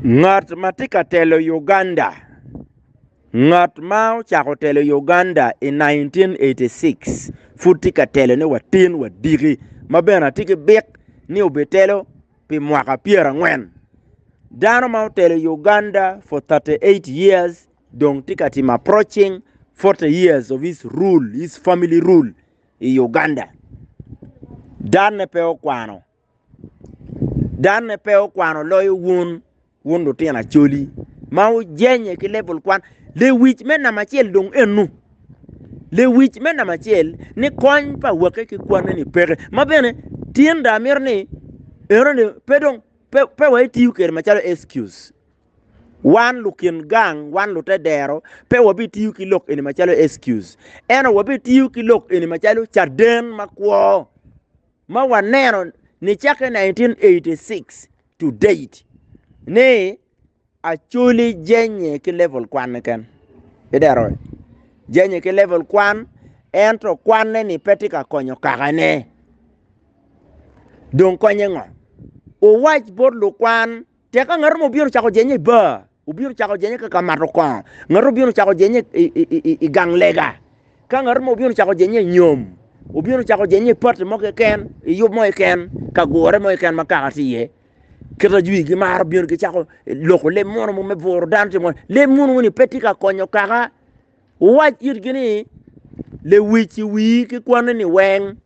Ngat ma tye ka telo Uganda ngat ma ocako telo Uganda i 1986 pud tye ka telo ni watin wadiki ma bene atye ki bik ni obitelo pi mwaka pyera ngwen dano ma otelo Uganda for 38 years dong tye ka timo approaching 40 years of his rule his family rule i Uganda dane pe okwano Danne pe okwano loyo wun, wun lutino acoli ma wujenye ki level kwan. Lewic me namba acel dong ennu. Lewic me namba acel ni kony pa awake ki kwanne ni peke. Ma bene tinda amito ni enoni pe dong pe, pe wa itiyo kwede macalo excuse. Wan lukin gang, wan lute dero pe wabitiyo ki lok eni macalo excuse. Ento wabitiyo ki lok eni macalo caden makwo. ma waneno ni cakke 1986 to date ni Acholi jenye ki level kwan keken. Idero jenye ki level kwan ento kwanne ni pe tye ka konyo kakane. Dong konye ngo? Uwac bot lukwan Tek ka ngat mo obino cako jenye i bar, obino cako jenye ka ka mato kongo, ngat obino cako jenye i, i, i, i, i gang lega, ka ngat mo obino cako jenye i nyom, obino cako jenye i pati mo keken, i yub mo keken, ka gure mo keken ma kaka tye iye. Kit ajwi gimaro bino gicako loko leb mono mo me buro dano tye mono. Leb mono ni pe tye ka konyo kaka. Wuwac itgi ni, lewic i wii ki kwanni ni weng,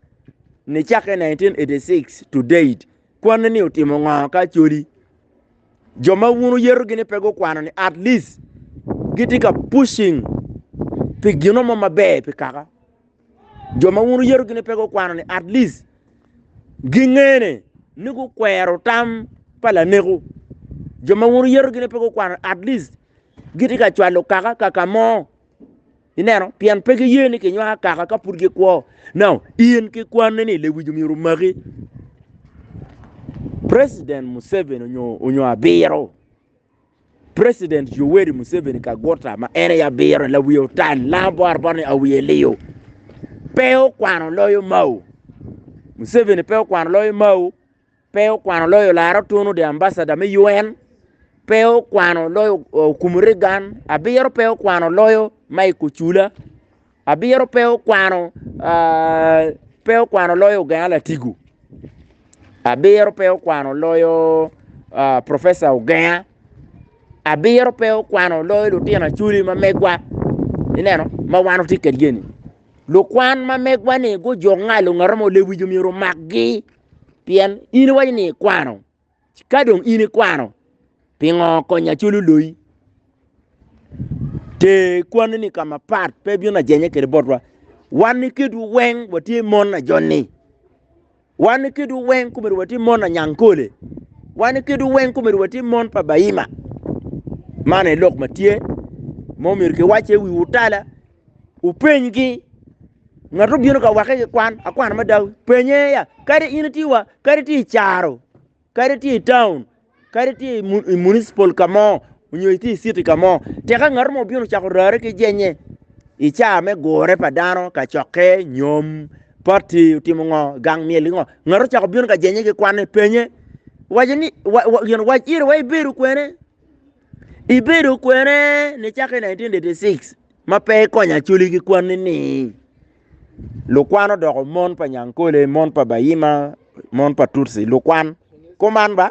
nicakke 1986 to date, Kwanne ni otimo ngo ka acholi? Jo ma wun wuyeto gini pe gukwano ni at least gitye ka pushing pi gino mo maber pi kaka. Jo ma wun wuyeto gini pe gukwano ni at least gingene ni gukwero tam pa laneko. Jo ma wun wuyeto gini pe gukwano at least gitye ka cwalo kaka kaka mo Ineno, pien pe giye ni kinywako kaka ka pud gikwo. Now, in ki kwanni ni lewic omyero omaki. President Museveni onyo, onyo abiro. President Yoweri Museveni Kaguta ma en aye abiro la wiye otal, langa bor bor ni awiye liyo. Pe okwano loyo Mao. Museveni pe okwano loyo Mao. Pe okwano loyo lar otunu the ambassador me UN pe okwano loyo okumu Reagan abiro pe okwano loyo Mike Ocula abiro pe okwano ah, pe okwano loyo Ogenga Latigo abiro pe okwano loyo ah, Professor Ogenga abiro pe okwano loyo lutino aculi ma megwa ineno ma wan otye kedgi-ni lukwan ma megwa-ni gujuk ngalo ngat ma olewijo myero omakgi pien in iwaco ni ikwano, ci ka dong in ikwano pingo kony acol oloyi? Ter kwani-ni ka mapat pe ibino ajenya kwede botwa. Wan iketwu weng watye mon na joni, wan iketwu weng komedi watye mon na Nyankole, wan iketwu weng komedi watye mon pa Baima. Man aye lok ma tye, ma omyero kiwacce i wiwu tala. Wupenygi. Ngat obino ka wakke ki kwan, akwana ma dawe, penye ya, kadi in itye wa, kadi itye i caro, kadi itye i taun, kadi itye i municipal ka mo, onyo itye i citi ka mo. Tika ngat mo obino cako rare ki jenye i caa me gure pa dano, kacokke, nyom, pati otimo ngo, gang myel ki ngo. Ngat ocako bino ka jenye ki kwanne, penye, waco ni, gin wac iri wa ibedo kwene? Ibedo kwene nicaka i 1986 ma pe ikonyo Acholi ki kwanni ni lukwan odoko mon pa Nyankole, mon pa Bayima, mon pa Tutsi, lukwan. Kuman ba?